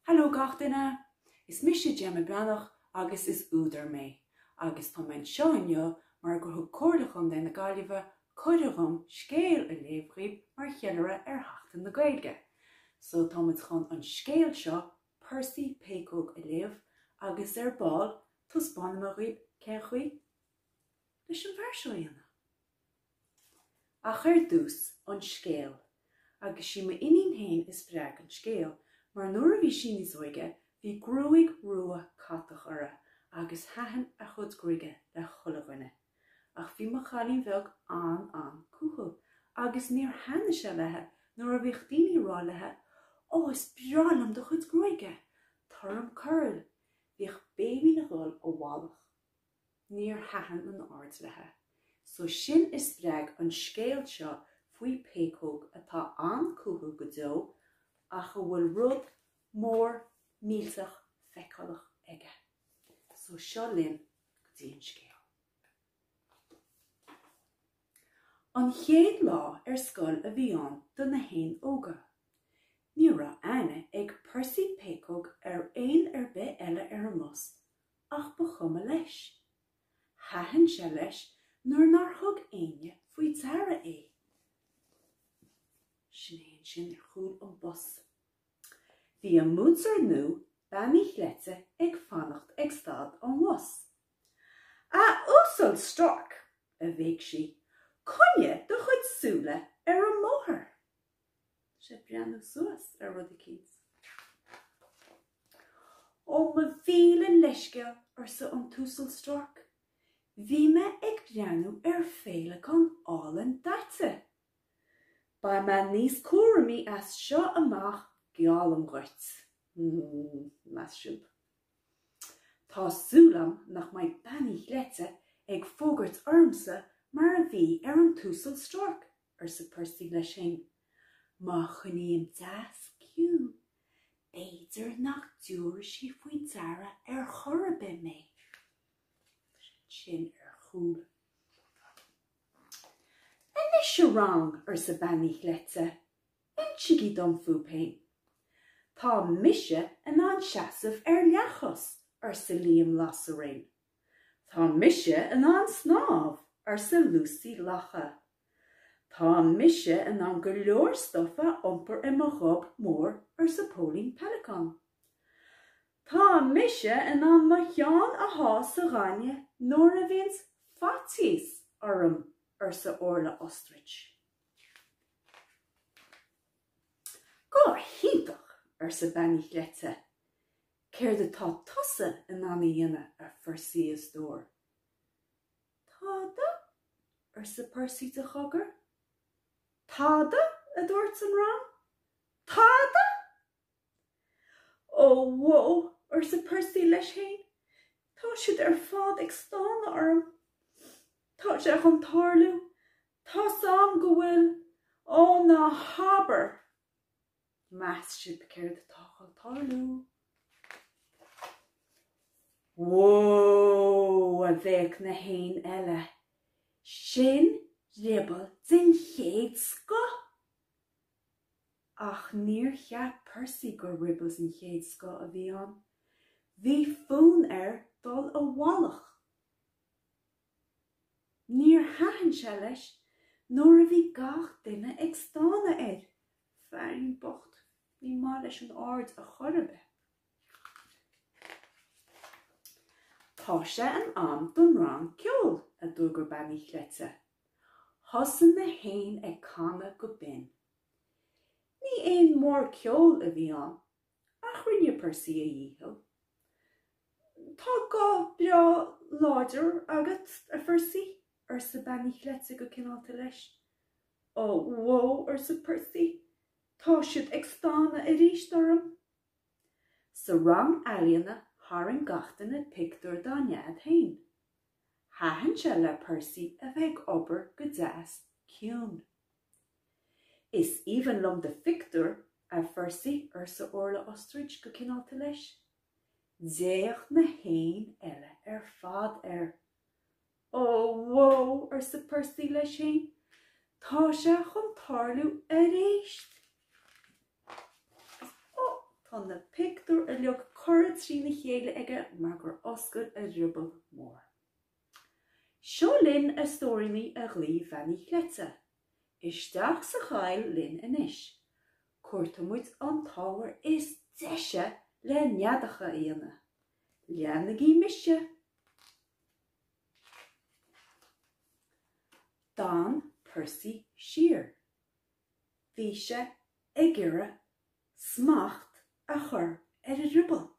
Hello gach duine! Is mise Gemma Breathnach agus is údar mé, agus tá mé anseo inniu mar gur thug Comhairle Chontae na Gaillimhe cuireadh dhom scéal a léamh dhaoibh mar cheiliúradh ar Sheachtain na Gaeilge. So tá muid chun an scéal seo, Percy Péacóg a léamh, agus ar ball, taispeánfaidh mé dhaoibh cén chaoi! leis an bhfear seo a dhéanamh. Ach ar dtús, an scéal, agus sí m'iníon féin a spreag an scéal, mar nuair a bhí sí níos óige, bhí gruaig rua catach uirthi agus thaitin a cuid gruaige le chuile dhuine. Ach bhí mo chailín beag an-an-chúthail, agus níor thaitnigh sé léithi nuair a bhíodh daoine a rá léithi, Ó, is breá liom do chuid gruaige! Tabhair dhom curl! Bhíodh Béibhinn ag dul i bhfolach. Níor thaitin an aird léithi so sin a spreag an scéal seo faoi péacóg atá an-chúthail go deo ach a bhfuil rud mór millteach feiceálach aige. So seo linn go dtí an scéal. An chéad lá ar scoil a bhí ann do na héin óga. Ní raibh aithne ag Percy Péacóg ar éan ar bith eile ar an mbus ach ba chuma leis. Thaitin sé leis nuair nár thug éinne faoi deara é. Sin é ansin ar chúl an bhus. Bhí an múinteoir nua, Bean Uí Chleite, ag fanacht ag stad an bhus. A Uasail Stork! a bhéic sí, coinnigh do chuid súile ar an mbóthar! Tá sé ag breathnú suas ar rud eicínt. Ó mo mhíle leithscéal, arsa an tUasal Stork, bhí mé ag breathnú ar féileacán álainn daite. Beidh mé níos cúramaí as seo amach, geallaim dhuit. Más fiú. Tá súil agam nach mbeidh Bean Uí Chleite ag fógairt ormsa mar a bhí ar an Uasal Stork arsa Percy leis féin. Má choinním deas ciúin, b'fhéidir nach dtabharfaidh sí faoi deara ar chor ar bith mé. Sin é ar chúl. Anois a rang, arsa Bean Uí Chleite, insigí dom fúibh féin. Tá mise in ann seasamh ar leathchois, arsa Liam Lasairéan. Tá mise in ann snámh, arsa Lucy Lacha. Tá mise in ann go leor stuif a iompar i mo ghob mór, arsa Póilín Pellicon. Tá mise in ann mo cheann a shá sa ghaineamh nuair a bhíonns faitíos orm, arsa Orla Ostrich. Go hiontach! arsa Bean Uí Chleite. Céard atá tusa in ann a dhéanamh, a Phercy, a stór. Tada, arsa Percy de chogar. Tada? a dúirt an rang. Tada! Ó bhó, arsa Percy leis féin, tá siad ar fad ag stánadh orm. Tá sé chun tarlú. Tá's a'm go bhfuil. Ó, ná habair! Meas sibh céard atá chun tarlú? Whoa! a bhéic na héin eile. Sin drioball den chéad scoth! Ach níor cheap Percy gur dhrioball den chéad scoth a bhí ann. Bhí fonn air dul i bhfolach. Níor thaitin sé leis nuair a bhí gach duine ag stánadh air. Fearín bocht. Ní maith leis an aird ar chor ar bith. Tá sé in am don rang ceoil, a d'fhógair Bean Uí Chleite. Thosaigh na héin ag canadh go binn. Ní éan mór ceoil a bhí ann, Ach rinne Percy a dhícheall. Tá guth breá láidir agat, a Phercy, arsa Bean Uí Chleite go cineálta leis. Ó, bhó, arsa Percy, tá siad ag stánadh aríst orm. Sa rang ealaíona tharraing gach duine pictiúr dá nead féin. Thaitin sé le Percy a bheith ag obair go deas ciúin. Is aoibhinn liom do phictiúr, a Phercy, arsa Orla Ostrich go cineálta leis. D'fhéach na héin eile ar fad air. Ó, bhó, arsa Percy leis féin, tá sé chun tarlú aríst! Ó, tá na pictiúir uilig curtha trína chéile aige mar gur oscail a dhrioball mór. Seo linn a stóiríní a ghlaoigh Bean Uí Chleite. Isteach sa choill linn anois. Cuartóidh muid an t-ábhar is deise le neadacha a dhéanamh. Leanaigí mise. D'fhan Percy siar. Bhí sé ag iarraidh smacht a chur ar a dhrioball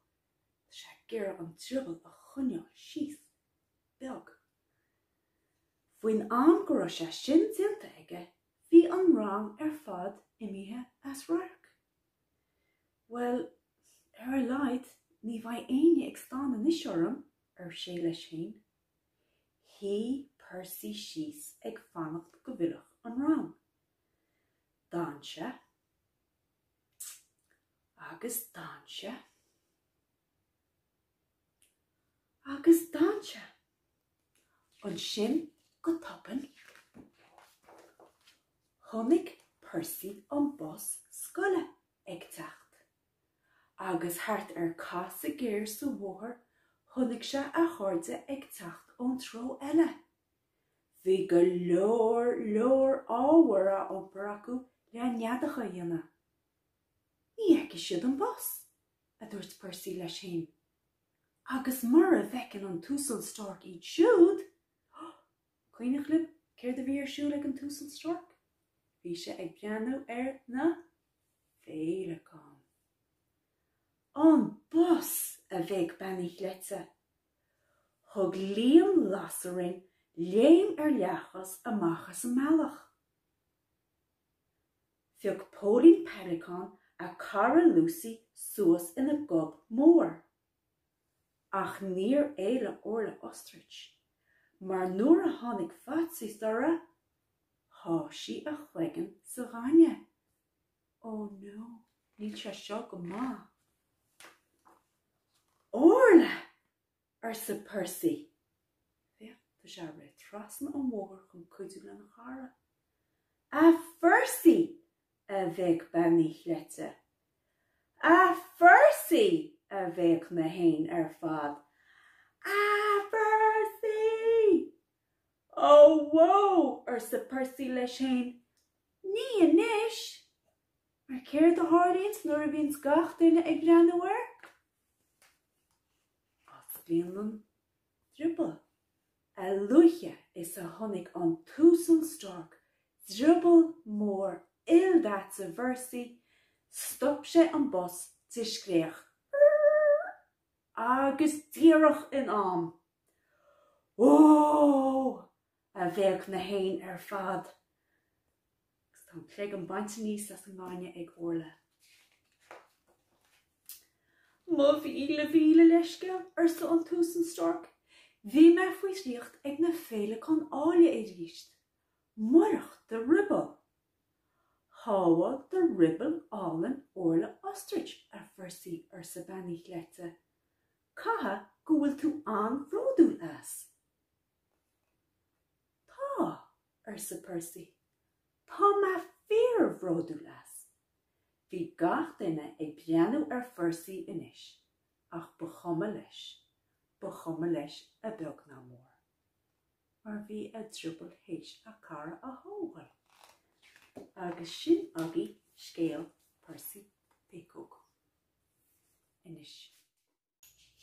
Tá sé ag iarraidh an drioball a choinneáil síos beag. Faoin am go raibh sé sin déanta aige bhí an rang ar fad imithe as radharc. Bhuel, ar a laghad ní bheidh éinne ag stánadh anois orm, ar sé leis féin. Shuigh Percy síos ag fanacht go bhfillfeadh an rang. D'fhan sé. agus d'fhan sé agus d'fhan sé ansin go tobann chonaic Percy an bus scoile ag teacht agus thart ar casadh géar sa bhóthar chonaic sé a chairde ag teacht ón treo eile. Bhí go leor leor ábhair á iompar acu le neadacha a dhéanamh. Ní fheicfidh siad an bus! a dúirt Percy leis féin. Agus mura bhfeiceann an tUasal Stork iad siúd! Cuimhneach libh céard a bhí ar siúl ag an tUasal Stork? Bhí sé ag breathnú ar na féileacáin. An bus! a bhéic Bean Uí Chleite. Thug Liam Lasairéan léim ar leathchos amach as an mbealach. Phioc Póilín Peileacán a cara Lucy suas ina gob mór. Ach níor éalaigh Orla Ostrich, mar nuair a tháinig faitíos uirthi, sháigh sí a chloigeann sa ghaineamh. Ó no, níl sé seo go maith. Orla! arsa Percy. Féach, tá sé ag rith trasna an bhóthair chun cuidiú lena chara. A Phercy! a bhéic bean Uí Chleite. A Phercy! a bhéic na héin ar fad. A Phercy! Ó bhó! arsa Percy leis fhéin, ní anois! Mar céard a tharlaíonns nuair a bhíonns gach duine ag breathnú air? Osclaíonn an drioball. A luaithe is a chonaic an tUasal Stork drioball mór ildaite Phercy, stop sé an bus de scréach, Rrrrrr! agus díreach in am! Ó! a bhéic na héin ar fad, agus a cloigeann bainte aníos as an ngainne ag Orla. Mo mhíle mhíle leithscéal, arsa an tUasal Stork. Bhí mé faoi dhraíocht ag na féileacáin áille arís. Murach do Ruball! Shábháil do Ruball álainn Orla Ostrich, a Phercy, arsa Bean Uí Chleite. Caithfidh go bhfuil tú an-bhródúil as? Tá, arsa Percy, tá mé fíorbhródúil as. Bhí gach duine ag breathnú ar Phercy anois, ach ba chuma leis, ba chuma leis beag ná mór, mar bhí a dhrioball théis a chara a thógáil. Agus sin agaibh scéal Percy Péacóg. anois.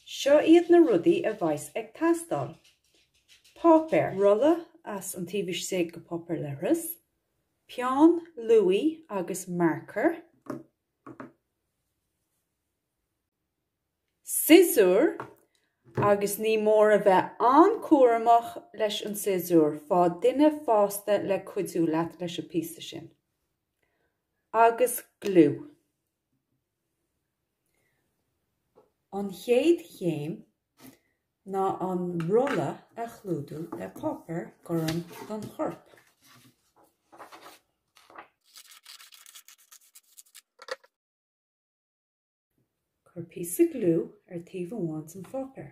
Seo iad na rudaí a bheas ag teastáil, páipéar, rolla as an taobh istigh go páipéar leithris, peann luaidhe agus marcóir, siosúr, agus ní mór a bheith an-chúramach leis an siosúr, faigh duine fásta le cuidiú leat leis an bpíosa sin, agus gliú. An chéad chéim ná an rolla a chlúdú le páipéar gorm don chorp. Cuir píosa gliú ar taobh amháin dhen pháipéar.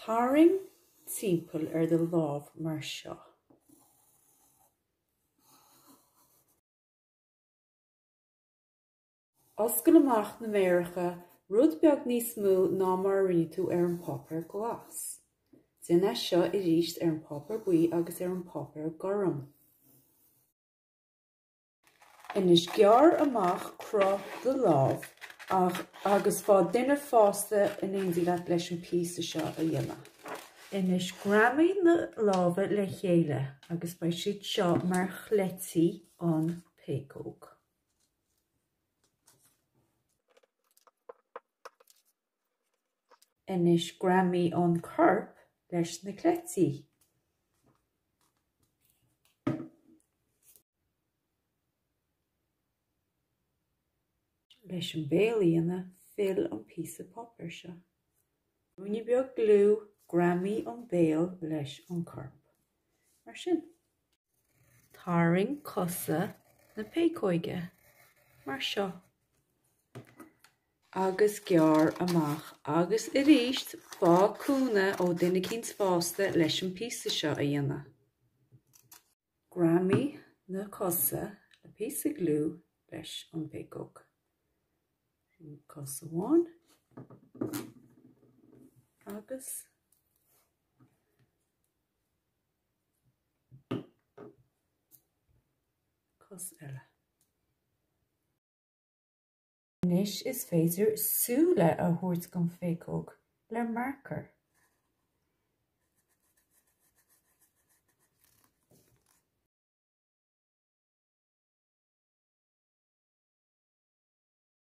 Tarraing timpeall ar do lámh mar seo. Oscail amach na méaracha rud beag níos mó ná mar a rinne tú ar an bpáipéar glas. Déan é seo arís ar an bpáipéar buí agus ar an bpáipéar gorm. Anois gearr amach cruth do lámh agus faigh duine fásta in éindí leat leis an píosa seo a dhéanamh. Anois greamaigh na lámha le chéile agus beidh siad seo mar chleití an péacóg. Anois greamaigh an corp leis na cleití. Leis an béal a dhéanamh fill an píosa páipéir seo. Ruainne beag gliú, greamaigh an béal leis an gcorp. Mar sin. Tarraing cosa na péacóige mar seo. agus gearr amach agus arís faigh cúnamh ó dhuine eicínt fásta leis an bpíosa seo a dhéanamh. Greamaigh na cosa le píosa gliú leis an bpéacóg. Sin cos amháin agus. cos eile. Anois is féidir súile a thabhairt don phéacóg le marcóir.